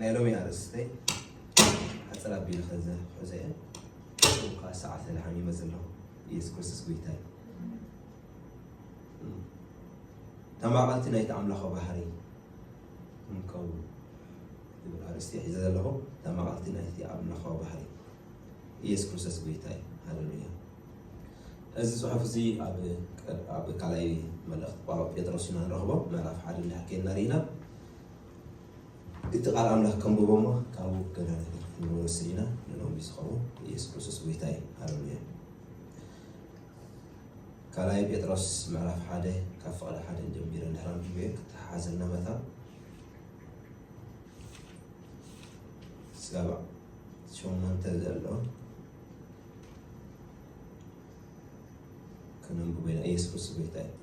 ናይ ሎሚ ኣርእስተይ ሓፅር ኣቢለ ከዘ ሕዘ እየ እኳ ሰዓት ተደሓን ይመፅ ኣለኹ ኢየሱስ ክርስቶስ ጎይታ እዩ ተማቐልቲ ናይቲ ኣምላኸ ባህሪ ንከውን ዝብል ኣርእስቲ ሒዘ ዘለኹ ተማቐልቲ ናይቲ ኣምላኸ ባህሪ ኢየሱስ ክርስቶስ ጎይታ እዩ ሃለሉያ እዚ ፅሑፍ እዚ ኣብ ካልኣይ መልእኽቲ ጳውሎስ ጴጥሮስ ኢና ንረኽቦ ምዕራፍ ሓደ እንዳሓከልና ርኢና እቲ ቃል ኣምላኽ ከንብቦ እሞ ካብኡ ገና ነገር ክንወስድ ኢና ንሎሚ ዝኸውን ኢየሱስ ክርስቶስ ጎይታ እዩ ሃለሉያ ካልኣይ ጴጥሮስ ምዕራፍ ሓደ ካብ ፍቕዲ ሓደ ጀሚረ እንድሕር ኣንብቤ ክተሓሓዘልና መታ ስጋብ ሸሞንተ ዘሎ ከነንብቦ ኢና። ኢየሱስ ክርስቶስ ጎይታ እዩ።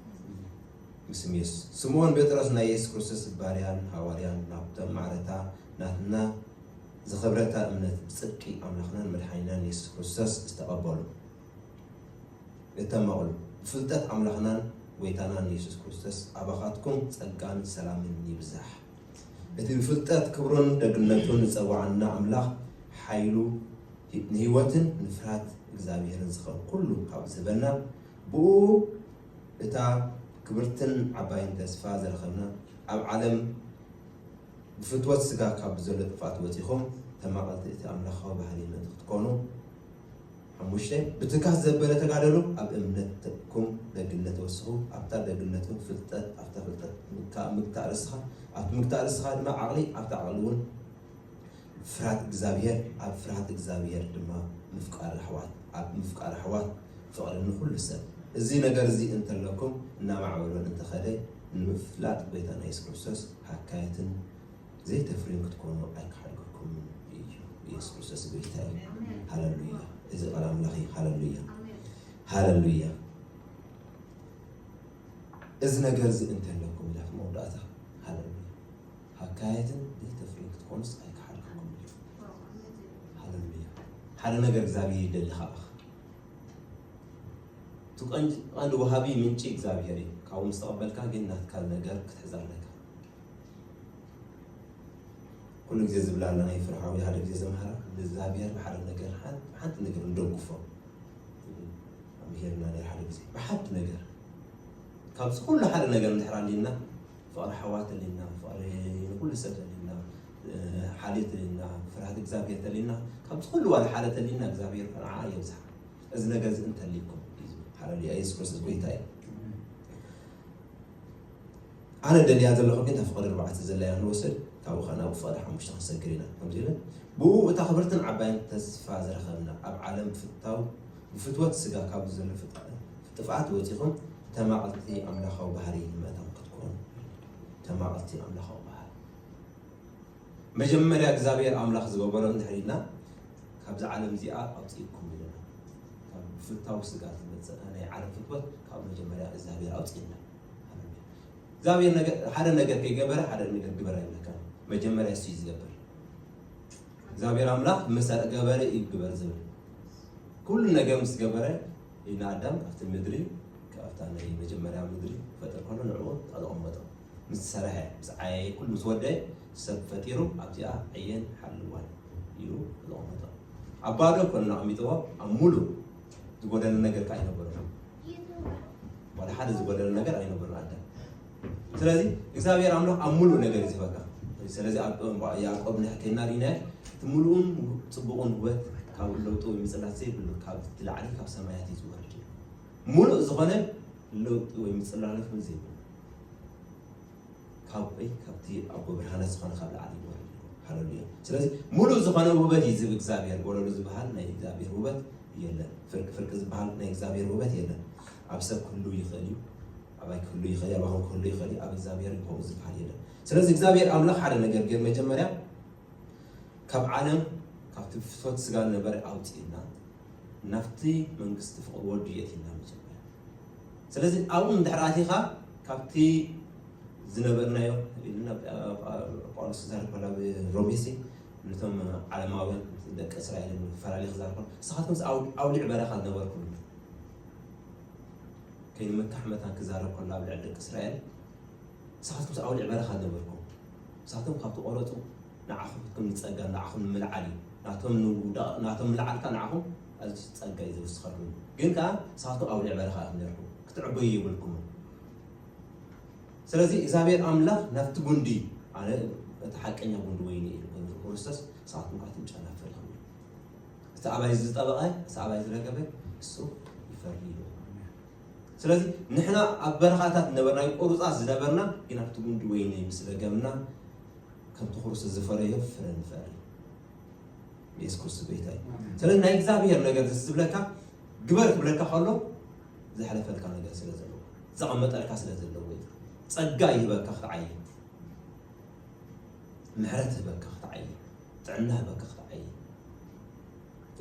ምስም ኢየሱስ ስምዖን ጴጥሮስ ናይ ኢየሱስ ክርስቶስ ባርያን ሃዋርያን ናብቶም ማዕረታ ናትና ዝኸብረታ እምነት ብጽድቂ ኣምላኽናን መድሓኒናን ኢየሱስ ክርስቶስ ዝተቐበሉ እተመቕሉ ብፍልጠት ኣምላኽናን ጎይታናን ኢየሱስ ክርስቶስ ኣባኻትኩም ጸጋን ሰላምን ይብዛሕ። እቲ ብፍልጠት ክብሩን ደግነቱን ዝጸውዓና ኣምላኽ ሓይሉ ንህይወትን ንፍርሃት እግዚኣብሔርን ዝኸውን ኩሉ ካብ ዝህበና ብእኡ እታ ክብርትን ዓባይን ተስፋ ዝረኸብና ኣብ ዓለም ብፍትወት ስጋ ካብ ብዘሎ ጥፍኣት ወጺኹም ተማቐልቲ እቲ ኣምላኻዊ ባህሊ ምእንቲ ክትኮኑ ሓሙሽተ፣ ብትካት ዘበለ ተጋደሎ ኣብ እምነትኩም ደግነት ወስኹ፣ ኣብታ ደግነትኩም ፍልጠት፣ ኣብታ ፍልጠት ኣብ ምግታእ ርእስኻ፣ ኣብቲ ምግታእ ርእስኻ ድማ ዓቕሊ፣ ኣብቲ ዓቕሊ እውን ፍርሃት እግዚኣብሄር፣ ኣብ ፍርሃት እግዚኣብሄር ድማ ምፍቃር ኣሕዋት፣ ኣብ ምፍቃር ኣሕዋት ፍቕሪ ንኹሉ ሰብ። እዚ ነገር እዚ እንተለኩም እናማዕበሎን እንተኸደ ንምፍላጥ ጎይታና የሱስ ክርስቶስ ሃካየትን፣ ዘይተፍርዩ ክትኮኑ ኣይክሓድገኩምን እዩ ኢየሱስ ክርስቶስ ጎይታ እዩ ሃለሉያ እዚ ቃል ኣምላኽ እዩ ሃለሉያ ሃለሉያ እዚ ነገር እዚ እንተለኩም ኢላ መወዳእታ ሃለሉያ ሃካየትን ዘይተፍርዩ ክትኮኑስ ኣይክሓድገኩም እዩ ሃለሉያ ሓደ ነገር እግዚኣብሔር ይደሊ ካባኻ እቲ ቀንዲ ቀንዲ ወሃቢ ምንጪ እግዚኣብሔር እዩ ካብኡ ምስ ተቐበልካ ግን ናትካ ነገር ክትሕዝ ኣለካ ኩሉ ግዜ ዝብላ ኣለና ይፍርሓ ወይ ሓደ ግዜ ዘምሃራ ንእግዚኣብሔር ብሓደ ነገር ሓንቲ ነገር ንደግፎ ኣምሄርና ናይ ሓደ ግዜ ብሓንቲ ነገር ካብዚ ኩሉ ሓደ ነገር እንድሕር ኣሊና ፍቕሪ ሓዋት ተሊና ፍቕሪ ንኩሉ ሰብ ተሊና ሓልዮት ተሊና ፍርሃት እግዚኣብሔር ተሊና ካብዚ ኩሉ ዋላ ሓደ ተሊና እግዚኣብሔር ንዓ የብዝሓ እዚ ነገር እዚ እንተልይኩም ሃለሉያ የሱስ ክርስቶስ ጎይታ እዩ ኣነ ደልያ ዘለኹ ግን እታ ፍቐዲ ኣርባዕተ ዘላ ኢና ክንወስድ ካብኡ ከኣ ናብ ፍቐዲ ሓሙሽተ ክንሰግር ኢና ከምዚ ኢለን ብእኡ እታ ክብርትን ዓባይን ተስፋ ዝረኸብና ኣብ ዓለም ብፍታው ብፍትወት ስጋ ካብዚ ዘሎ ጥፍኣት ወጺኹም ተማቕልቲ ኣምላኻዊ ባህሪ ምእታው ክትኮኑ ተማቕልቲ ኣምላኻዊ ባህሪ መጀመርያ እግዚኣብሔር ኣምላኽ ዝገበሮ እንድሕር ኢልና ካብዚ ዓለም እዚኣ ኣውፅእኩም ኢልና ካብ ብፍታው ስጋ ዝመፅእ ናይ ዓለም ፍትወት ካብ መጀመርያ እግዚኣብሔር ኣውፅእና ሃለሉያ እግዚኣብሔር ነገር ሓደ ነገር ከይገበረ ሓደ ነገር ግበር ኣይብለካን መጀመርያ እሱ እዩ ዝገብር እግዚኣብሔር ኣምላክ ምስ ገበረ እዩ ግበር ዝብል ኩሉ ነገር ምስ ገበረ ኢና ኣዳም ኣብቲ ምድሪ ካብታ ናይ መጀመርያ ምድሪ ፈጥር ከሎ ንዕኡ ኣዘቐመጦ ምስ ዝሰረሐ ምስ ዓየየ ኩሉ ምስ ወደየ ሰብ ፈጢሩ ኣብዚኣ ዕየን ሓልዋን ኢሉ ኣዘቐመጦ ኣብ ባዶ ኮነ ኣቐሚጥዎ ኣብ ሙሉእ ዝጎደለ ነገር ከ ኣይነበረን ዋላ ሓደ ዝጎደለ ነገር ኣይነበረን ኣዳም ስለዚ እግዚኣብሔር ኣምላኽ ኣብ ሙሉእ ነገር እዩ ዝበካ ስለዚ ኣብ ያዕቆብ ንሕከና ሪና እቲ ሙሉእን ፅቡቕን ህወት ካብ ለውጡ ወይ ምፅላት ዘይብሉ ካብ ትላዕሊ ካብ ሰማያት እዩ ዝወርድ ሙሉእ ዝኾነ ለውጢ ወይ ምፅላለት እውን ዘይብሉ ካብይ ካብቲ ኣቦ ብርሃናት ዝኾነ ካብ ላዕሊ ይወርድ ኣሎ ሃለሉያ ስለዚ ሙሉእ ዝኾነ ውበት እዩ ዝብ እግዚኣብሔር ወለሉ ዝበሃል ናይ እግዚኣብሔር ውበት የለን ፍርቂ ፍርቂ ዝበሃል ናይ እግዚኣብሔር ውበት የለን ኣብ ሰብ ክህሉ ይኽእል እዩ ኣባይ ክህሉ ይኽእል እዩ ኣባኹም ክህሉ ይኽእል እዩ ኣብ እግዚኣብሔር ከምኡ ዝበሃል የለን ስለዚ እግዚኣብሔር ኣምላኽ ሓደ ነገር ግን መጀመርያ ካብ ዓለም ካብቲ ፍትወት ስጋ ነበረ ኣውፅእና ናብቲ መንግስቲ ፍቕሪ ወዱ የእቲና መጀመርያ ስለዚ ኣብኡ እንድሕር ኣቲኻ ካብቲ ዝነበርናዮ ኢልና ጳውሎስ ክዛረብ ከሎ ኣብ ሮሜ ሲ ነቶም ዓለማውያን ደቂ እስራኤል ፈላሊ ክዛረብ ከሎ ንስኻትኩም ኣውሊዕ በረኻ ዝነበርኩም ከይንመካሕ መታን ክዛረብ ከሎ ኣብ ልዕሊ ደቂ እስራኤል ንስኻትኩም ኣውሊዕ በረኻ ዝነበርኩም ንስኻትኩም ካብቲ ቆረፁ ንዓኹም ክትኩም ዝጸጋ ንዓኹም ንምልዓል እዩ ናቶም ንውዳቅ ናቶም ምልዓል ካኣ ንዓኹም ኣዚ ጸጋ እዩ ዝውስኸልኩም ግን ካኣ ንሳቶም ኣውሊዕ በረኻ ኢኹም ኔርኩም ክትዕበዩ የብልኩምን ስለዚ እግዚኣብሔር ኣምላኽ ናብቲ ጉንዲ ኣነ እቲ ሓቀኛ ጉንዲ ወይኒ እዩ ጎንዲ ክርስቶስ ንሳቶም ካኣ ትም ጨናፍር ኢኹም እቲ ኣባይ ዝጠበቐ እቲ ኣባይ ዝረገበ እሱ ይፈርድ እዩ ስለዚ ንሕና ኣብ በረኻታት ነበርና ቆሩፃት ዝነበርና ግን ኣብቲ ጉንዲ ወይኒ ምስ ረገምና ከምቲ ክርስቶስ ዝፈረዮ ፍረ ንፈሪ የሱስ ክርስቶስ ጎይታ እዩ ስለዚ ናይ እግዚኣብሄር ነገር ደስ ዝብለካ ግበር ክብለካ ከሎ ዘሕለፈልካ ነገር ስለ ዘለዎ ዘቐመጠልካ ስለ ዘለዎ እዩ ጸጋ ይህበካ ክትዓይ ምሕረት ህበካ ክትዓይ ጥዕና ህበካ ክትዓይ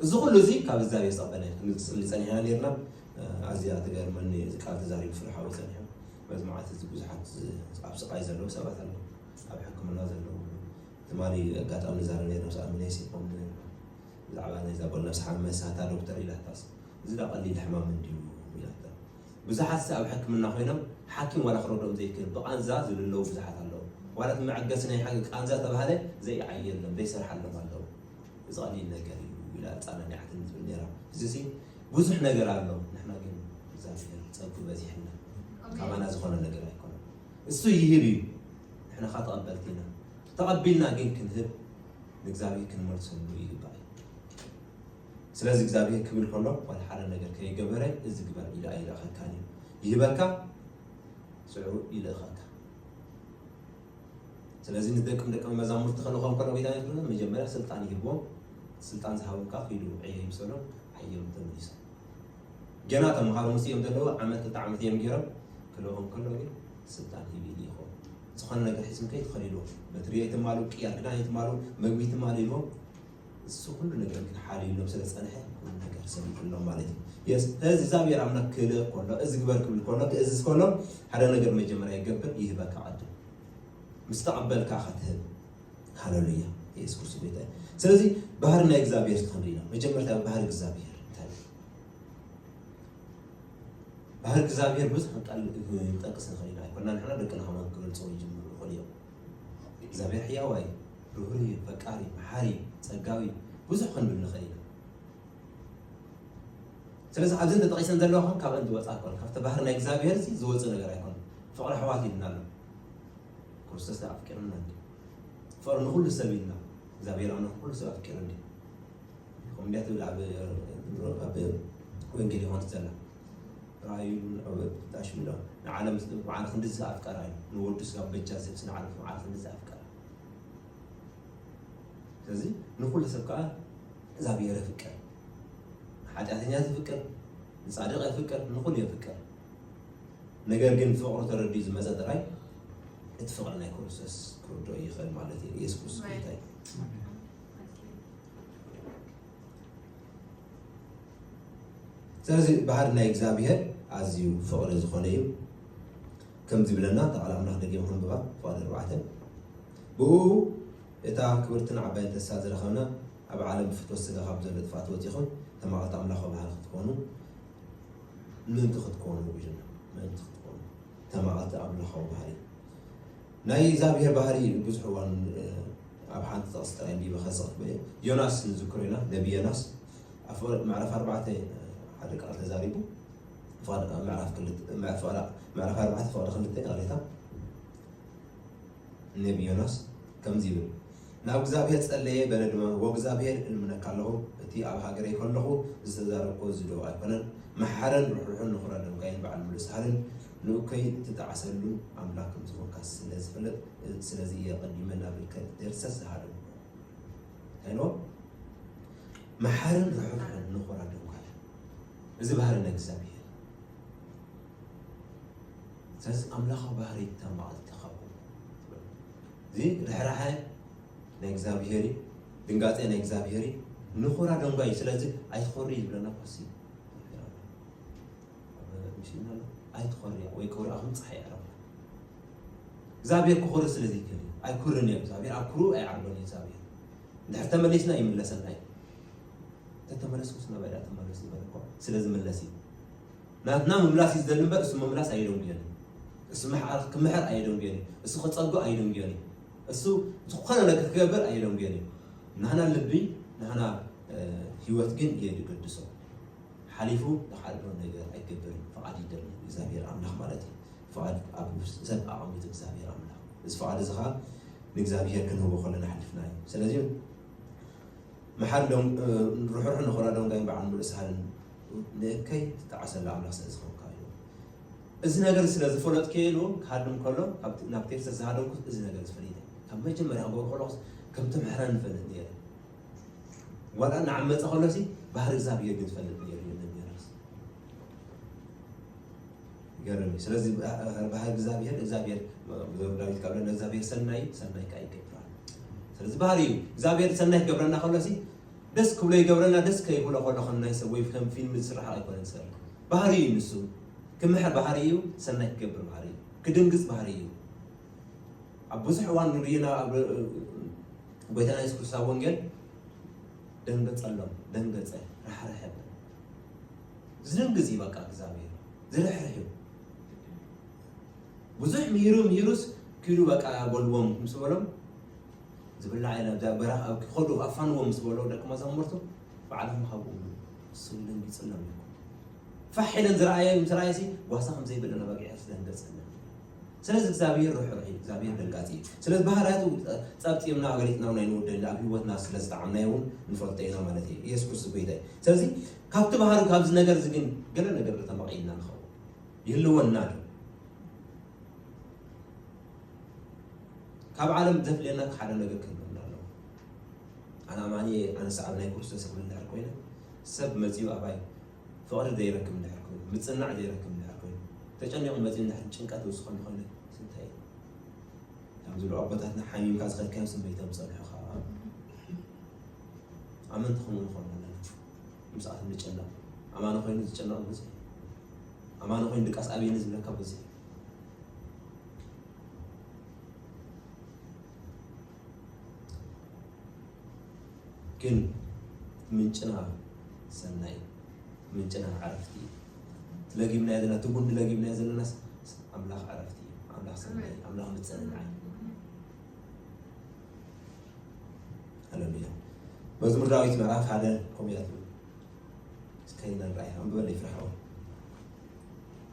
እዚ ኩሉ እዚ ካብ እግዚኣብሄር ዝቐበለ ክንፅሊ ፀኒሕና ነርና ኣዝያ ትገርመኒ እዚ ቃል ተዛሪቡ ፍርሓዊ ፀኒሑ በዚ መዓልቲ እዚ ብዙሓት ኣብ ስቓይ ዘለዉ ሰባት ኣለዉ ኣብ ሕክምና ዘለዉ ትማሊ ኣጋጣሚ ንዛረብ ኔርና ምስ ኣሚነይ ሲኮም ብዛዕባ ናይዛ ጓል ነብሲ ሓመሳ እታ ዶክተር ኢላታስ እዚ ዳ ቀሊል ሕማም እንድዩ ኢላታ ብዙሓት ሲ ኣብ ሕክምና ኮይኖም ሓኪም ዋላ ክረድኦም ዘይክእል ብቃንዛ ዝልለዉ ብዙሓት ኣለዉ ዋላ እቲ መዐገሲ ናይ ሓ ቃንዛ ተባህለ ዘይዓየሎም ዘይሰርሓሎም ኣለዉ እዚ ቀሊል ነገር እዩ ኢላ ኣጻናኒዓትኒ ትብል ኔራ እዚ ሲ ብዙሕ ነገር ኣሎ ንሕና ግን እግዚኣብሄር ጸጉ በዚሕልና ካባና ዝኾነ ነገር ኣይኮነን እሱ ይህብ እዩ ንሕና ከኣ ተቐበልቲ ኢና ተቐቢልና ግን ክንህብ ንእግዚኣብሄር ክንመልሰሉ ይግባእ እዩ ስለዚ እግዚኣብሄር ክብል ከሎ ዋላ ሓደ ነገር ከይገበረ እዚ ግበር ኢሉ ኣይልእኸካን እዩ ይህበካ ስዑ ይልእኸካ ስለዚ ንደቅም ደቀ መዛሙርቲ ከልኾም ከሎ ጌታ ይብሎ መጀመርያ ስልጣን ይህቦም ስልጣን ዝሃቦም ከዓ ክይዱ ዕየ ይምሰሎም ዓዮም ተመሊሶም ገና ተምሃሮ ምስ እዮም ዘለዉ ዓመት ክልተ ዓመት እዮም ገይሮም ክልኦም ከሎ ግን ስልጣን ሂብ ኢሊ ይኸውን ዝኾነ ነገር ሒዝም ከይ ትኸል ኢልዎም በትሪ ኣይትማሉ ቅያር ክዳን ኣይትማሉ መግቢ ትማሉ ኢልዎም እሱ ኩሉ ነገር ግን ሓልዩሎም ስለ ዝፀንሐ ኩሉ ነገር ሰሚዑሎም ማለት እዩ የስ እዚ እግዚኣብሔር ኣምላክ ክልእ ከሎ እዚ ግበር ክብል ከሎ ክእዝዝ ከሎ ሓደ ነገር መጀመርያ ይገብር ይህበካ ዓዲ ምስ ተቐበልካ ከትህብ ሃለሉያ ኢየሱስ ክርስቶስ ጌታ እዩ። ስለዚ ባህሪ ናይ እግዚኣብሔር ተኸንሪና መጀመርታ ባህሪ እግዚኣብሔር እንታይ እዩ? ባህሪ እግዚኣብሔር ብዙሕ ቃል ጠቅስ ንኽእል ኢና ኣይኮና ንሕና ደቅና ከማን ክገልፀው ይጅምሩ ይኽእሉ እዮም። እግዚኣብሔር ሕያዋ እዩ፣ ርህሩህ እዩ፣ ፈቃሪ፣ መሓሪ፣ ፀጋዊ ብዙሕ ክንብል ንኽእል ኢና። ስለዚ ኣብዚ እንተጠቂሰን ዘለዋ ከም ካብአን ዝወፃ ኣይኮነ ካብቲ ባህሪ ናይ እግዚኣብሔር እዚ ዝወፅእ ነገር ኣይኮነ ፍቅሪ ኣሕዋት ይልና ኣሎ ክርስቶስ ደኣ ኣፍቂሩና እንድዩ። ፍቕሪ ንኹሉ ሰብ እዩ ኢልና እግዚኣብሔር ኣምላኽ ንኹሉ ሰብ ኣፍቂሩ እንድዩ። ከምኡ እንድያ ትብል ኣብ ወንጌል ዮሃንስ ዘላ ራእዩ ጣሽ ብሎ ንዓለም በዓል ክንድዚ ኣፍቀራ እዩ ንወዱ ስጋብ በጃ ዝህብሲ ንዓለም በዓል ክንድዚ ኣፍቀራ ስለዚ ንኹሉ ሰብ ከዓ እግዚኣብሔር የፍቅር ንሓጢኣተኛ ዝፍቅር ንፃድቕ የፍቅር ንኹሉ የፍቅር ነገር ግን ፍቕሩ ተረዲኡ ዝመፀ ጥራይ እቲ ፍቕሪ ናይ ክርስቶስ ክርድኦ ይኽእል ማለት እዩ ኢየሱስ ክርስቶስ ጌታ እዩ ስለዚ ባህሪ ናይ እግዚኣብሔር ኣዝዩ ፍቕሪ ዝኾነ እዩ ከም ዝብለና እታ ቃል ኣምላኽ ደጊም ክንብባ ፍቓድ ኣርባዕተ ብኡ እታ ክብርትን ዓባይን ተስፋ ዝረኸብና ኣብ ዓለም ብፍትወት ስጋ ካብ ዘሎ ጥፍኣት ወፂኹም ተማቐልቲ ኣምላኽ ባህሪ ክትኮኑ ምእንቲ ክትኮኑ ኢልና ምእንቲ ክትኮኑ ተማቐልቲ ኣምላኻዊ ባህሪ ናይ እግዚኣብሔር ባህሪ ብዙሕ እዋን ኣብ ሓንቲ ጥቕስ ጥራይ እንዲበ ከሰኽት በየ ዮናስ ንዝክሮ ኢና ነቢ ዮናስ ኣፈወርቅ ምዕራፍ ኣርባዕተ ሓደ ቃል ተዛሪቡ ፍቓድ ምዕራፍ ክልተ ምዕራፍ ፍቓድ- ምዕራፍ ኣርባዕተ ፍቓድ ክልተ ይቕሬታ ነቢ ዮናስ ከምዚ ይብል ናብ እግዚኣብሄር ጸለየ በለ ድማ ዎእግዚኣብሄር እልምነካ ኣለኹ እቲ ኣብ ሃገረይ ከለኹ ዝተዛረብኮ እዚ ዶ ኣይኮነን መሓርን ርሕሩሕን ንኹራ ደምካይን በዓል ምሉእ ሳህልን ንኡከይ ትጣዕሰሉ ኣምላክ ከምዝኾንካ ስለ ዝፈልጥ ስለዚ እየ ቀዲመ ናብልከ ደርሰ ዝሃደሙ ሄሎ መሓርን ርሕሩሕን ንኹራ ደምካይን እዚ ባህሪ ናይ እግዚኣብሄር ስለዚ ኣምላኻዊ ባህሪ ተማዕልቲ እዚ ርሕራሐ ናይ እግዚኣብሄር እዩ፣ ድንጋጼ ናይ እግዚኣብሄር እዩ፣ ንኹራ ደንጓይ እዩ። ስለዚ ኣይትኾሪ እዩ ዝብለና ኮሲ ሚስና ኣሎ ኣይትኾርያ ወይ ክብርኣኹም ፀሓይ ዕረባ እግዚኣብሄር ክኾሪ ስለ ዘይክእል እዩ። ኣይኩርን እዩ እግዚኣብሄር ኣብ ኩሩ ኣይዓርበን እዩ እግዚኣብሄር እንድሕር ተመሊስና ይምለሰና እዩ ተተመለስኩስ ናባይ ድኣ ተመለስ ዝበለ እኮ ስለ ዝምለስ እዩ ናትና ምምላስ እዩ ዝደሊ እምበር እሱ ምምላስ ኣየደንጉዮን እዩ። እሱ ምሕዓር ክምሕር ኣየደንጉዮን እዩ። እሱ ክጸጉ ኣየደንጉዮን እዩ። እሱ ዝኾነ ነገር ክገብር ኣየደንጉዮን እዩ። ናህና ልቢ ናህና ህይወት ግን እየ ዝገድሶ ሓሊፉ ንካልኦ ነገር ኣይገብርን ፍቓድ ይደሊ እግዚኣብሔር ኣምላኽ ማለት እዩ ፍቓድ ኣብ ሰብ ኣቐሚጡ እግዚኣብሔር ኣምላኽ እዚ ፍቓድ እዚ ከዓ ንእግዚኣብሔር ክንህቦ ከለና ሓሊፍና እዩ ስለዚ መሓር ርሑሕ ንኾራ ዶንጋይ በዓል ሙሉእ ሳህልን ንእከይ ዝጠዓሰሉ ኣምላኽ ስለ ዝዀንካ እዩ። እዚ ነገር ስለ ዝፈለጥክዮ ኢሉ እውን ክሃድም ከሎ ናብ ቴክሳስ ዝሃደምኩስ እዚ ነገር እዚ ፈሊጠ ካብ መጀመርያ ክገብሮ ከለኹስ ከም ትምሕረኒ እፈልጥ ነይረ። ዋላ እናዓመፀ ከሎሲ ባህሪ እግዚኣብሄር ግን ዝፈልጥ ነይሩ እዩ ነቢያርስ ይገርም እዩ። ስለዚ ባህሪ እግዚኣብሄር እግዚኣብሄር ዘሩ ዳዊት ካብ ለእግዚኣብሄር ሰናይ ሰናይ ከዓ ይገብራል። ስለዚ ባህሪ እዩ እግዚኣብሄር ሰናይ ክገብረና ከሎሲ ደስ ክብሎ ይገብረና ደስ ከይብሎ ከሎ ከም ናይ ሰብ ወይ ከም ፊልሚ ዝስርሖ ኣይኮነን ሰብ ባህሪ እዩ ንሱ ክምሕር ባህሪ እዩ ሰናይ ክገብር ባህሪ እዩ ክድንግፅ ባህሪ እዩ ኣብ ብዙሕ እዋን ንሪኢና ኣብ ጎይታና የሱስ ክርስቶስ ኣብ ወንጌል ደንገጸሎም ደንገጸ ራሕርሐ ዝደንግዝ እዩ በቃ እግዚኣብሔር ዝርሕርሕ እዩ ብዙሕ ምሂሩ ምሂሩስ ክዱ በቃ በልዎም ምስ በሎም ዝብላዕ ኢለ ኣብ በረኻ ኣብ ክኸዱ ኣፋንዎም ምስ በሎ ደቂ መዛሙርቱ ባዕልኹም ሃብኡ ብሉ ንሱ ኢለን ይጽለም ኢልኩም ፋሕ ኢለን ዝረኣየ ምስ ረኣየሲ ጓሳ ከም ዘይብለን ኣባጊዕ ክፍለን ገጸለን ስለዚ እግዚኣብሔር ርሕሩሕ እዩ እግዚኣብሔር ደንጋፂ እዩ ስለዚ ባህርያቱ ፀብፂብና ገሊፅና ናይ ንወደለ ኣብ ሂወትና ስለ ዝጠዓምናዮ እውን ንፈልጦ ኢና ማለት እዩ ኢየሱስ ክርስቶስ ጎይታ እዩ ስለዚ ካብቲ ባህሪ ካብዚ ነገር እዚ ግን ገለ ነገር ተመቒልና ንኸውን ይህልወና ዶ ካብ ዓለም ዘፍልየና ሓደ ነገር ክንብል ኣለዎ። ኣነ ኣማኒ እየ፣ ኣነ ሰዓቢ ናይ ክርስቶስ ክብል ድሕር ኮይነ ሰብ መፂኡ ኣባይ ፍቕሪ ዘይረክብ ድሕር ኮይኑ ምፅናዕ ዘይረክብ ድሕር ኮይኑ ተጨኒቑ መፂኡ ድሕር ጭንቀት ዝውስኾ እንኾይነ ስንታይ እዩ ከም ዝብሉ ኣቦታትና ሓሚምካ ዝኸድካዮ ስመይ ተምፀልሑ ከዓ ኣመንቲ ከምኡ ንኾኑ ኣለና ምስኣቶም ንጨነቕ ኣማኒ ኮይኑ ዝጨነቕ ብዙሕ ኣማኒ ኮይኑ ድቃስ ኣብየኒ ዝብለካ ብዙሕ ግን ምንጭና ሰናይ ምንጭና ዓረፍቲ እዩ ለጊብናዮ ዘለና እቲ ጉንዲ ለጊብናዮ ዘለና ኣምላኽ ዓረፍቲ እዩ ኣምላኽ ሰናይ ኣምላኽ ምፅንናዕ ሃለሉያ መዝሙር ዳዊት ምዕራፍ ሓደ ከምኡ ያሉ እስከ ይነራይ ኣንብበለይ ፍርሓው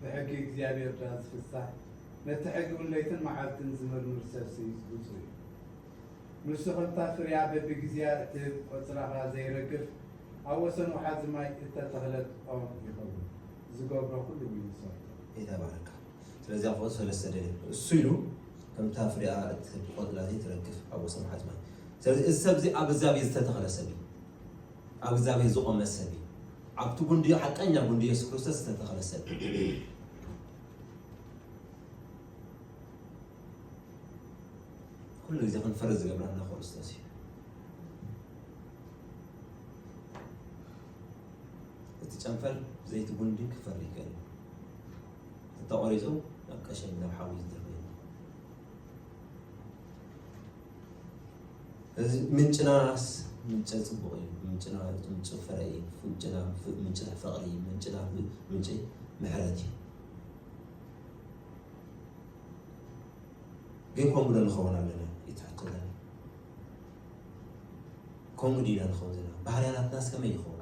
ብሕጊ እግዚኣብሔር ድኣ ዝፍሳህ ነቲ ሕጊውን ለይትን መዓልትን ዝምርምር ሰብሲ ብፁእ እዩ። ንሱ ከምታ ፍርያ በብጊዜያ እትህብ ቆጽራኻ ዘይረግፍ ኣብ ወሰን ወሓዚ ማይ እተተኽለት ኦም ይኸውን። ዝገብሮ ኩሉውን ይሰርቶ። ጌታ ባረካ ስለዚ ያዕቆብ ሰለስተ ደልዩ እሱ ኢሉ ከምታ ፍሪኣ እትህብ ቆጽላ ዘይትረግፍ ኣብ ወሰን ሓዝማይ ስለዚ እዚ ሰብ እዚ ኣብ እግዚኣብሔር ዝተተኸለ ሰብ እዩ ኣብ እግዚኣብሔር ዝቆመ ሰብ እዩ ኣብቲ ጉንዲ ሓቀኛ ጉንዲ የሱስ ክርስቶስ ዝተተኸለ ሰብ ኩሉ ግዜ ክንፈሪ ዝገብረና ክርስቶስ እዩ እቲ ጨንፈር ዘይቲ ጉንዲ ክፈሪ ይክእል ተቆሪፁ ናብ ቀሸኝ ናብ ሓዊ ዝድርብ እዚ ምንጭናስ ምንጨ ፅቡቕ እዩ ምንጭና ምንጭ ፍረ እዩ ምንጭና ምንጭ ናይ ፍቕሪ እዩ ምንጭና ምንጭ ምሕረት እዩ ግን ከምኡ ዶ ንኸውን ኣለና ይትሕተለና ከምኡ ዲና ንኸውን ዘለና ባህርያናትናስ ከመይ ይኸውን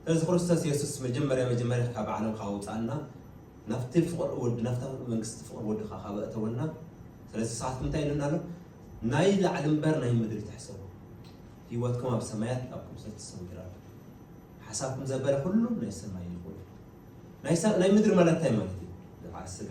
ስለዚ ክርስቶስ የሱስ መጀመርያ መጀመርያ ካብ ዓለም ካብ ኣውጻኣና ናብቲ ፍቕሪ ወዲ ናብታ መንግስቲ ፍቕሪ ወድኻ ካብ ኣእተወና ስለዚ ንስኻትኩም እንታይ ኢሉና ኣሎ ናይ ላዕሊ እምበር ናይ ምድሪ ትሕሰቡ ህይወትኩም ኣብ ሰማያት ኣብ ክርስቶስ ተሰንግራ ኣሎ ሓሳብኩም ዘበለ ኩሉ ናይ ሰማይ ይኹን ናይ ምድሪ ማለት እንታይ ማለት እዩ ዝዓር ስጋ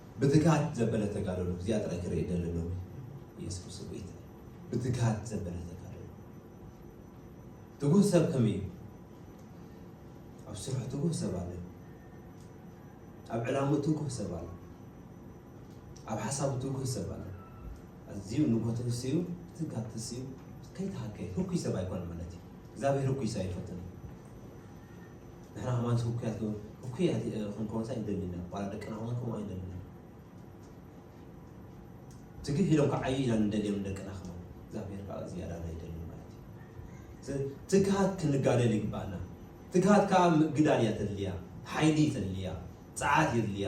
ብትግሃት ዘበለ ተጋደሉ እዚኣ ጥራይ ክርኢ ይደሊ ኣለኹ ኢየሱስ ክርስቶስ ጎይታ ብትግሃት ዘበለ ተጋደሉ ትጉህ ሰብ ከመይ እዩ ኣብ ስርሑ ትጉህ ሰብ ኣሎ ኣብ ዕላሙ ትጉህ ሰብ ኣሎ ኣብ ሓሳቡ ትጉህ ሰብ ኣሎ ኣዝዩ ንጎት ትስዩ ትጋት ትስዩ ከይተሃከየ ህኩይ ሰብ ኣይኮነ ማለት እዩ እግዚኣብሔር ህኩይ ሰብ ኣይፈትን ንሕና ከማን ህኩያት ዶ ህኩያት ክንኮንስ ኣይንደልንና ዋላ ደቅና ከማን ከምኡ ኣይንደልንና ትግህ ኢሎም ክዓዩ ኢና ንደልዮም ደቅና ከማን እግዚኣብሔር ከዓ ዝያዳ ናይ ደሊ ማለት እዩ ትግሃት ክንጋደል ይግባኣና ትግሃት ከዓ ምግዳል እያ ተድልያ ሓይሊ ተድልያ ፀዓት የድልያ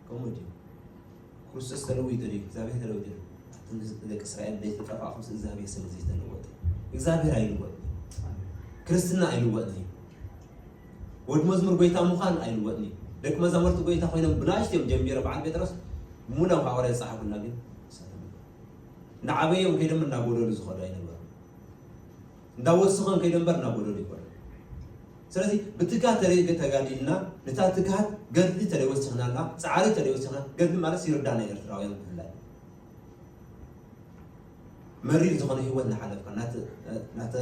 ከምኡ ድዩ? ክርስቶስ ተለዊጡ ድዩ? እግዚኣብሔር ተለዊጡ ድዩ? ኣቱም ህዝቢ ደቂ እስራኤል ዘይተጠፋእኹ ምስ እግዚኣብሔር ስለ ዘይተለወጠ እግዚኣብሔር ኣይልወጥ ክርስትና ኣይልወጥ እዩ ወድ መዝሙር ጎይታ ምዃን ኣይልወጥ እዩ ደቂ መዛሙርቲ ጎይታ ኮይኖም ብናእሽቱ እዮም ጀሚሮ በዓል ጴጥሮስ ሙላው ሃዋርያ ዝፀሓፉልና ግን ንዓበዮም ከይዶም እናጎደሉ ዝኸዱ ኣይነበሩ እንዳወሰኸን ከይደ እምበር እናጎደሉ ይኸዱ። ስለዚ ብትግሃት ተደይ ተጋዲልና ነታ ትግሃት ገድሊ ተደይ ወሲኽናላ ፃዕሪ ተደይ ወሲኽና ገድሊ ማለት ይርዳና ኤርትራውያን ብፍላይ መሪር ዝኾነ ህይወት እናሓለፍካ ናተ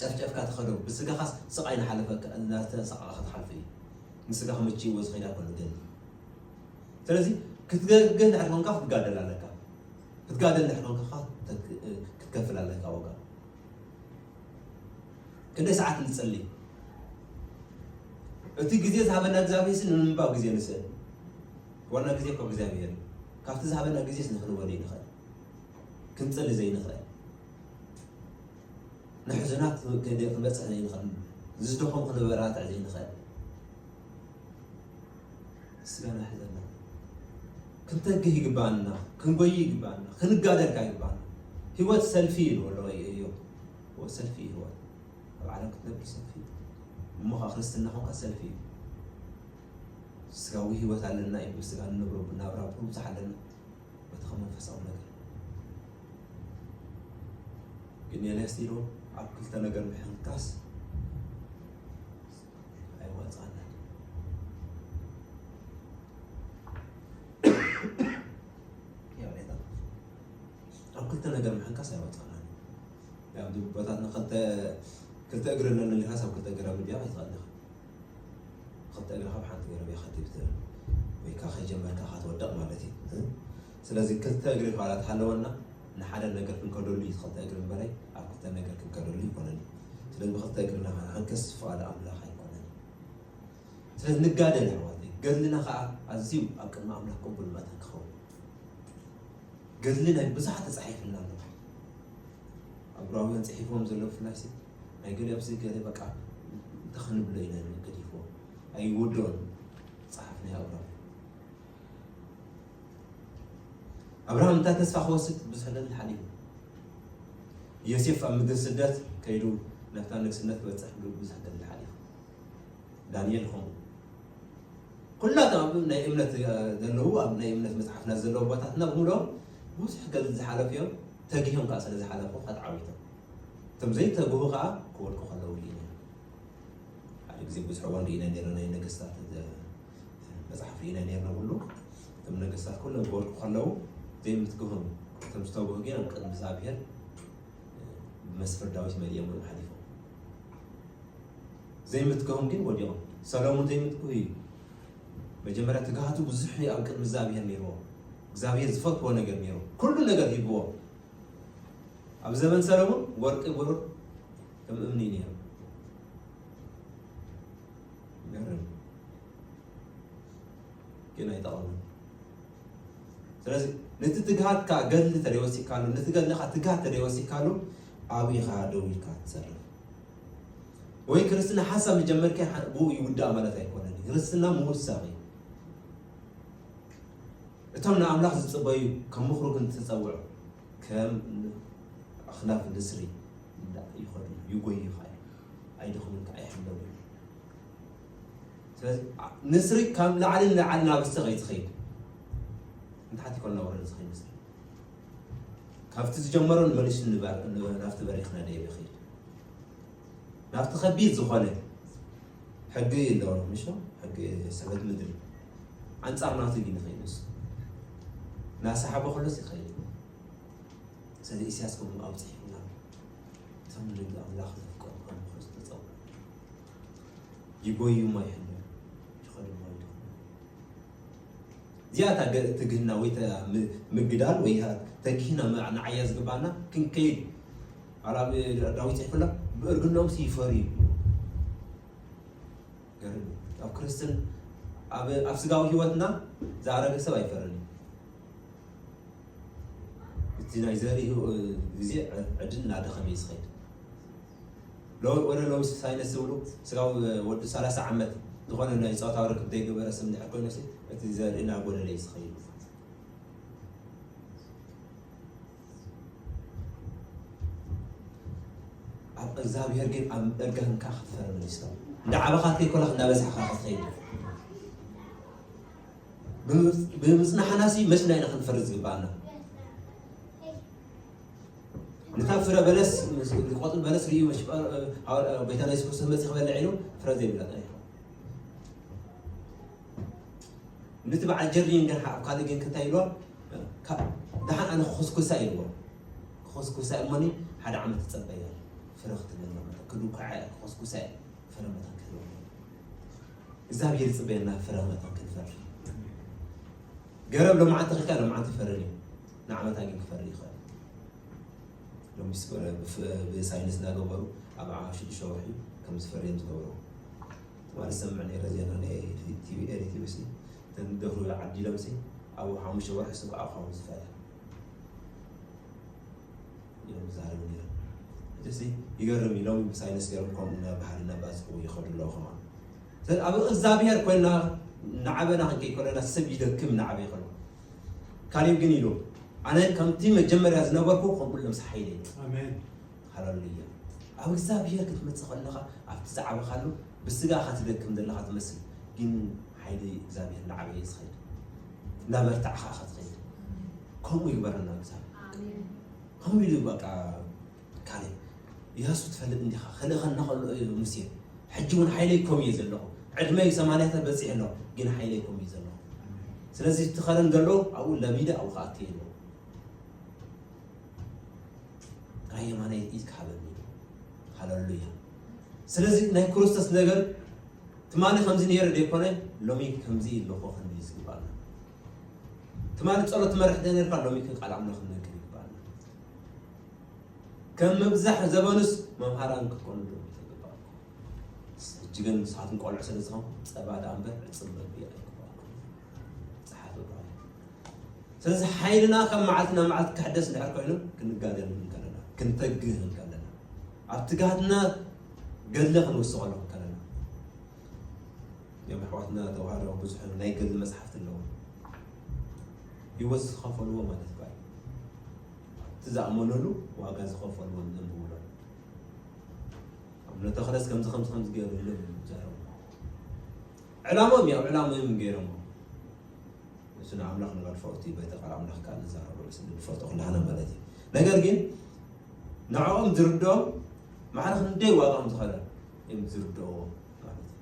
ጨፍጨፍካ ትኸዶ ብስጋኻስ ስቓይ ናሓለፈካ እናተሰቃቕካ ትሓልፈ እዩ ንስጋኻ መችይዎ ዝኸይዳ ኮኑ ገድሊ ስለዚ ክትገድል ድሕሪ ኮንካ ክትጋደል ኣለካ ክትጋደል እንድሕር ኮንካ ክትከፍል ኣለካ ዋጋ ክንደይ ሰዓት ንጸሊ እቲ ግዜ ዝሃበና እግዚኣብሔር ሲ ንምንባብ ግዜ ንስእል ዋና ግዜ እኮ እግዚኣብሔር እዩ ካብቲ ዝሃበና ግዜስ ንክንወል ይንኽእል ክንጸሊ ዘይንኽእል ንሕዙናት ክንበፅሕ ዘይንኽእል ዝደኸም ክንበራትዕ ዘይንኽእል ስጋና ሒዘና ክንተግህ ይግባኣና፣ ክንጎይ ይግባኣና፣ ክንጋደል ካኣ ይግባኣና። ህይወት ሰልፊ ኢዩ በሎ እዮብ። እወ ሰልፊ እዩ ህይወት። ኣብ ዓለም ክትነብር ሰልፊ እዩ። እሞ ካኣ ክርስትና ኮንካ ሰልፊ እዩ። ስጋዊ ህይወት ኣለና እዩ ብስጋ ንነብሮ ብናብራ ብዙሕ ኣለና በቲ ከም መንፈሳዊ ነገር ግን የለስቲሮ ኣብ ክልተ ነገር ምሕንካስ ኣይዋፅኣናን ኣብ ክልተ ነገር ምሕንካስ ኣይዋፅኣናን ኣብ ድቦታትና ክልተ ክልተ እግሪ ኣለኒ ኢልካስ ኣብ ክልተ ገረብ ድያ ኣይትኽእል ኢኻ ክልተ እግርኻ ኣብ ሓንቲ ገረብ እያ ከትብል ወይ ከዓ ከይጀመርካ ከትወደቕ ማለት እዩ ስለዚ ክልተ እግሪ እኳ ተሃለወና ንሓደ ነገር ክንከደሉ እዩ እቲ ክልተ እግሪ እምበረይ ኣብ ክልተ ነገር ክንከደሉ ኣይኮነን እዩ። ስለዚ ብክልተ እግርና ክንዓንክስ ፍቓድ ኣምላኽ ኣይኮነን እዩ። ስለዚ ንጋደል ኣሕዋተይ፣ ገድልና ከኣ ኣዝዩ ኣብ ቅድሚ ኣምላኽ ቅቡል መታን ክኸውን ገድሊ ናይ ብዙሓት ተጻሒፍልና ኣሎ። ኣብ ዕብራውያን ጽሒፎም ዘለዉ ብፍላይ ናይ ገለ ኣብዚ ገለ በቃ እንታይ ክንብሎ ኢና ገዲፎ ኣይወድኦን ጸሓፍ ናይ ዕብራውያን ኣብርሃም እንታይ ተስፋ ክወስድ ብዙሕ ዕለት ሓሊፉ ዮሴፍ ኣብ ምድሪ ስደት ከይዱ ናብታ ንግስነት ክበፅሕ ብዙሕ ዕለት ሓሊፉ ዳንኤል ከምኡ ኩላቶም ኣብ ናይ እምነት ዘለዉ ኣብ ናይ እምነት መፅሓፍና ዘለዉ ቦታትና ብምሎም ብዙሕ ገዝ ዝሓለፉ እዮም ተጊሆም ከዓ ስለ ዝሓለፉ ከትዓዊቶም እቶም ዘይተግሁ ከዓ ክወድቁ ከለዉ ሓደ ግዜ ብዙሕ ወንድ ኢና ነና ናይ ነገስታት መጽሓፍ ኢና ነርና ብሉ እቶም ነገስታት ኩሎም ክወድቁ ከለዉ ዘይምትግሆም እቶም ዝተግሁ ግን ኣብ ቅድሚ እግዚኣብሔር ብመስፍር ዳዊት መሊኦም እዮም ሓሊፎም ዘይምትግሆም ግን ወዲቖም ሰሎሞን ዘይምትግሁ እዩ መጀመርያ ትግሃቱ ብዙሕ እዩ ኣብ ቅድሚ እግዚኣብሔር ነይርዎ እግዚኣብሔር ዝፈትዎ ነገር ነይሩ ኩሉ ነገር ሂብዎ ኣብ ዘመን ሰሎሞን ወርቂ ብሩር ከም እምኒ ነይሩ ይገርም ግን ኣይጠቐምን ስለዚ ነቲ ትግሃትካ ገድሊ ተደይ ወሲካሉ ነቲ ገድልካ ትግሃት ተደይ ወሲካሉ ኣብኻ ደው ኢልካ ትሰርፍ ወይ ክርስትና ሓሳብ መጀመርካ ብኡ ይውዳእ ማለት ኣይኮነን ክርስትና ምውሳኽ እዩ እቶም ንኣምላኽ ዝፅበዩ ከም ምኽሩ ግን ተፀውዑ ከም ኣኽላብ ንስሪ ይኸዱ ይጎዩኻ እዩ ኣይደኽሙካ ኣይሕለቡ እዩ ስለዚ ዓ- ንስሪ ካብ ላዕሊ ንላዕሊ ናብ ስቕ እዩ ዝኸይድ ንታሕቲ ኮን ናወረደ ዝኸይድ ንስሪ ካብቲ ዝጀመሮ ንመሊሱ ንበር- ን- ናብቲ በሪኽ ነደየ ይኸይድ ናብቲ ከቢድ ዝኾነ ሕጊ ኣለዎ ምሽ ሕጊ ሰበት ምድሪ ኣንጻር ናቱ ዲዩ ንከይዱስ ናሳሓቦ ከሎስ ይከይድ ኢዩ ሰለ ኢስያስ ከምኡ ኣብጺሑና እቶም ንደቂ ኣምላኽ ዘፍቀሩ ከምክሩ ዝተጸውዑ ይጎዩ እሞ ይሕለፉ ይኸዱ እሞ ይደኽሙ እዚኣ እታ ገ- ትግህና ወይ እታ ም- ምግዳል ወይ እታ ተግሂና ም- ንዓያ ዝግባና ክንከይድ ዋላ ብ- ዳዊት ይሕፍላ ብእርግናኦም ሲ ይፈርዩ ገርም እዩ ኣብ ክርስትን ኣብ ኣብ ስጋዊ ህይወትና ዝኣረገ ሰብ ኣይፈርን እዩ እቲ ናይ ዘርኢ ግዜ ዕድል እናደኸመ እዩ ዝኸይድ ወደ ሎሚ ሳይነስ ዝብሉ ስጋዊ ወዲ 30 ዓመት ዝኾነ ናይ ፆታዊ ርክብ ዘይገበረ ስም ድሕር ኮይኑ እቲ ዘርኢ እናጎደለ እዩ ዝኸይድ ኣብ እግዚኣብሔር ግን ኣብ እርጋንካ ክትፈርም ንስካ እንዳዓበኻ ከይኮላክ እንዳበዛሕካ ክትኸይድ ብምፅናሕናሲ መች ናይ ኢና ክንፈሪ ዝግባኣና ንታ ፍረ በለስ ቆፅል በለስ ርእዩ ጎይታና የሱስ ክርስቶስ መፅእ ክበልዕ ኢሉ ፍረ ዘይብላ ነቲ በዓል ጀርዲን ግን ኣብ ካልእ ግን እንታይ ኢልዋ ደሓን ኣነ ክኹስኩሳ ኢልዎ ክኹስኩሳ እሞኒ ሓደ ዓመት ትፀበያ ፍረ ክትበለ ክዱኳዓ ክኹስኩሳ ፍረ መታን ክህልዎ እግዚኣብሔር ይፅበየና ፍረ መታን ክንፈሪ ገረብ ሎምዓንቲ ክልካ ሎምዓንቲ ፈሪ እዩ ንዓመታ ግን ክፈሪ ይኽእል ሎሚ ብሳይንስ እናገበሩ ኣብ ሽዱሽተ ወርሒ ከም ዝፈሪ እዮም ዝገበሩ ትማሊ ዝሰምዕ ነይረ ዜና ናይ ቲቪ ኤሪ ቲቪ ሲ እተን ደፍሩ ዓዲሎም ሲ ኣብ ሓሙሽተ ወርሒ ሲ ክኣ ክኸውን ዝፈለ እዮም ዝዛረቡ ነይሮም እዚ ሲ ይገርም ኢሎም ብሳይንስ ገይሮም ከምኡ ናብ ባህሪ እናባዝኹ ይኸዱ ኣለዉ ከማን ስለዚ ኣብ እግዚኣብሔር ኮይና ናዓበና ክንከይ ከለና ሰብ ይደክም ናዓበ ይኸሉ ካሊብ ግን ኢሉ ኣነ ከምቲ መጀመርያ ዝነበርኩ ከምኡ ልምስ ሓይለ እዩ ኣሜን ሃለሉያ ኣብ እግዚኣብሔር ክትመጽእ ከለኻ ኣብቲ ዝዓበኻሉ ብስጋ እኻ ትደክም ዘለኻ ትመስል ግን ሓይሊ እግዚኣብሔር እንዳዓበየ እዩ ዝኸይድ እንዳበርታዕኻ እኻ ትኸይድ ከምኡ ይግበረና እግዚኣብሔር ከምኡ ኢሉ በቃ ካሌ ኢያሱ ትፈልጥ እንዲኻ ክልእኸና ከሎ እዩ ሙሴ ሕጂ እውን ሓይለይኮም እየ ዘለኹ ዕድመይ ሰማንያታት በፂሕ ኣሎ ግን ሓይለይኮም እዩ ዘለኹ ስለዚ እቲ ከረን ዘሎ ኣብኡ ለሚደ ኣብኡ ከኣትየ ኣለኹ ጥራይ የማናይ ኢድካ ሃበኒ ኢሉ ሃለሉያ ስለዚ ናይ ክርስቶስ ነገር ትማሊ ከምዚ ነይረ ዘይኮነ ሎሚ ከምዚ ኣለኹ ክንብል ዝግባኣና ትማሊ ፀሎት መርሕ ዘይነርካ ሎሚ ግን ቃል ኣምላኽ ክንነግር ይግባኣና ከም ምብዛሕ ዘበኑስ መምሃራን ክትኮኑ ዶ ተግባእ ሕጂ ግን ንስኻትኩም ቆልዑ ስለ ዝኾንኩም ፀባ ዳኣ እምበር ዕፅምበቢ ኣይኮ ጸሓፈ ብርሃኑ። ስለዚ ሓይልና ካብ መዓልቲ ናብ መዓልቲ ክሕደስ እንድሕር ኮይኑ ክንጋደል እንከለና ክንተግህ እንከለና ኣብ ትግሃትና ገድለ ክንውስቐሉ እንከለና እዮም ኣሕዋትና ተዋህዶ ብዙሕ ናይ ገድሊ መፅሓፍቲ ኣለዎ ህይወት ዝኸፈልዎ ማለት ዩ እቲ ዝኣመነሉ ዋጋ ዝኸፈልዎ ዘንብብሎ ኣብ ነተኽለስ ከምዚ ከምዚ ከምዚ ገይሩ ኢሎም ይዛረቡ ዕላምኦም እዩ ኣብ ዕላምኦም እዩ ገይሮሞ እሱ ንኣምላኽ ንመድፈርቲ እዩ በቲ ቃል ኣምላኽ ካል ዝዛረበሉ ስለ ንፈልጦ ኩላህና ማለት እዩ ነገር ግን ንዕኦም ዝርድኦም ማዕረ ክንደይ ዋጋ ከም ዝኸለ እዮም ዝርድኦ ማለት እዩ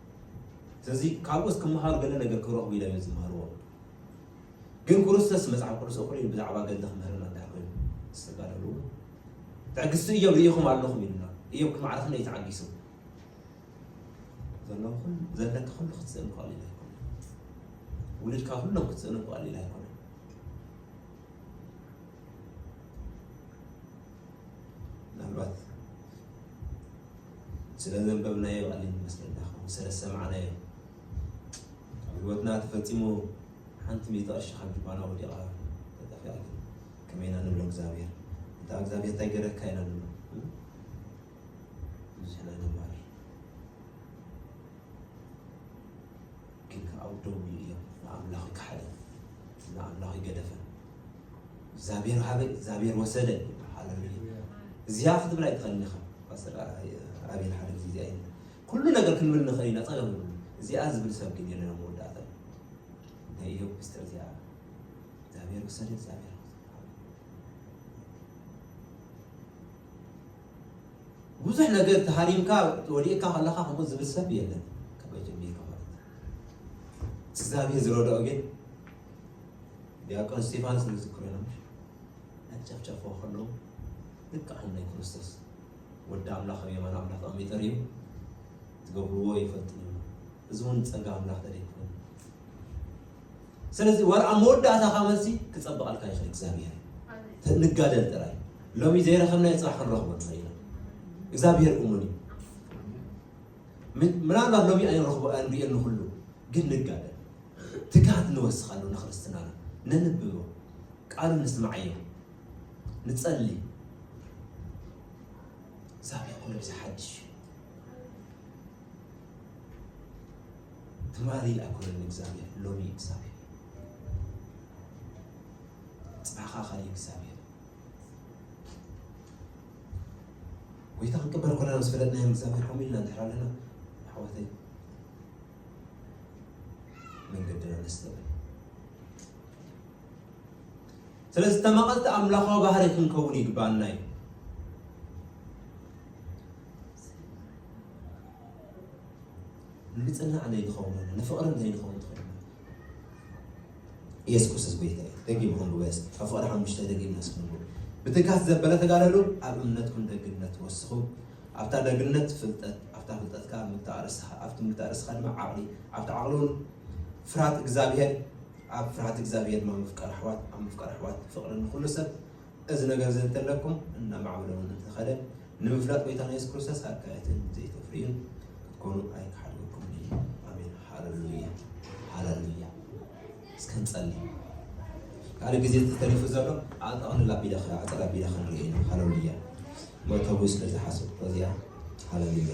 ስለዚ ካብኡስ ክመሃሩ ገለ ነገር ክረኽቡ ኢሎም እዮም ዝመሃርዎ ግን ክርስቶስ መጽሓፍ ቅዱስ እኹል እዩ ብዛዕባ ገድሊ ክምህርና እንታይ ኮይኑ ዝተጋደሉ ትዕግስቲ እዮም ርኢኹም ኣለኹም ኢሉና እዮም ክማዕረኽን እዩ ተዓጊሱ ዘለዎ ኩሉ ዘለካ ኩሉ ክትስእን ቀሊል ኣይኮነ ውልድካ ኩሎም ክትስእኑ ቀሊል ኣይኮነ ምናልባት ስለ ዘንበብናዮ ቀሊል ይመስለና ከምኡ ስለ ዝሰማዕናዮ ኣብ ህይወትና ተፈፂሙ ሓንቲ ሚእቲ ቅርሺ ካብ ጅባና ወዲቓ ተጠፊኣ ግን ከመይ ኢና ንብሎ እግዚኣብሔር እንተ እግዚኣብሔር እንታይ ገረካ ኢና ንብሎ እዙይ ናይ ደባሪ ግን ከዓ ኣብ ደው ኢሉ እዮም ንኣምላኽ ከሓደ ንኣምላኽ ይገደፈ እግዚኣብሔር ሃበ እግዚኣብሔር ወሰደ ሃለሉያ እዚያ ክትብል ኣይትኽእልን ኢኻ ፓስተር ኣቤል ሓደ ጊዜ እዚኣ ይብል ኩሉ ነገር ክንብል ንኽእል ኢና ፀገም ንብሉ እዚኣ ዝብል ሰብ ግን የለን ኣብ መወዳእታ ናይ ኢዮብ ምስጢር እዚኣ እግዚኣብሔር ወሰደ እግዚኣብሔር ብዙሕ ነገር ተሃሪምካ ወዲእካ ከለኻ ከምኡ ዝብል ሰብ የለን ካበይ ጀሚርካ ማለት እግዚኣብሔር ዝረድኦ ግን ዲያቆን እስጢፋኖስ ንዝክሮ ኢና ምሽ ኣጨፍጨፍዎ ከለዉ ልክዕ ናይ ክርስቶስ ወዲ ኣምላኽ ኣብ የማን ኣምላኽ ተቐሚጠር እዩ ዝገብርዎ ይፈልጡ እዚ እውን ጸጋ ኣምላኽ ተደይ ክኸውን ስለዚ ወር ኣብ መወዳእታ ካብ መልሲ ክጸብቐልካ ይኽእል እግዚኣብሔር ንጋደል ጥራይ ሎሚ ዘይረኸብናዮ ፅራሕ ክንረኽቦ ንኽእል ኢና እግዚኣብሔር እሙን እዩ ምናልባት ሎሚ ኣይንረኽቦ ኣንሪኦ ንኹሉ ግን ንጋደል ትግሃት ንወስኻሉ ንክርስትናና ነንብቦ ቃሉ ንስማዓዮ ንጸሊ እግዚኣብሔር ኩሉ ግዜ ሓድሽ እዩ ትማሊ ኣይኮነን እግዚኣብሔር ሎሚ እግዚኣብሔር ጽባኻ ኸሪ እግዚኣብሔር ጎይታ ክንቅበል ኮለና ምስ ፈለጥናዮም እግዚኣብሔር ከምኡ ኢልና እንድሕር ኣለና ኣሕዋተይ መንገድና ነስተብር ስለዚ ተመቐልቲ ኣምላኻዊ ባህሪ ክንከውን ይግባኣና እዩ ንጽናዕ ዘይንኸውን ሆነ ንፍቕርን ዘይንኸውን ትኸይድ ኢየሱስ ክርስቶስ ጎይታ እዩ ደጊም ሆን ብበስ ካብ ፍቕሪ ሓሙሽተ ደጊም ነስኩም ብትጋት ዘበለ ተጋደሉ ኣብ እምነትኩም ደግነት ወስኹ ኣብታ ደግነት ፍልጠት ኣብታ ፍልጠትካ ምታእርስኻ ኣብቲ ምታእርስኻ ድማ ዓቕሊ ኣብቲ ዓቕሊ እውን ፍርሃት እግዚኣብሄር ኣብ ፍርሃት እግዚኣብሄር ድማ ምፍቃር ኣሕዋት ኣብ ምፍቃር ኣሕዋት ፍቕሪ ንኩሉ ሰብ እዚ ነገር እዚ እንተለኩም እናማዕበለ እውን እንተኸደ ንምፍላጥ ጎይታና የሱስ ክርስቶስ ኣካየትን ዘይተፍርዩን ክትኮኑ ኣይክሓልወኩምን እዩ። ኣሜን። ሃለሉያ ሃለሉያ። እስከ ንጸሊ ካለ ግዜ ተሪፉ ዘሎ ኣጠቕልላ ቢለ ኣፀላ ቢለ ክንርኢ ኢና። ሃለሉያ መእተዊ ስለዝሓሰብኩ እዚያ ሃለሉያ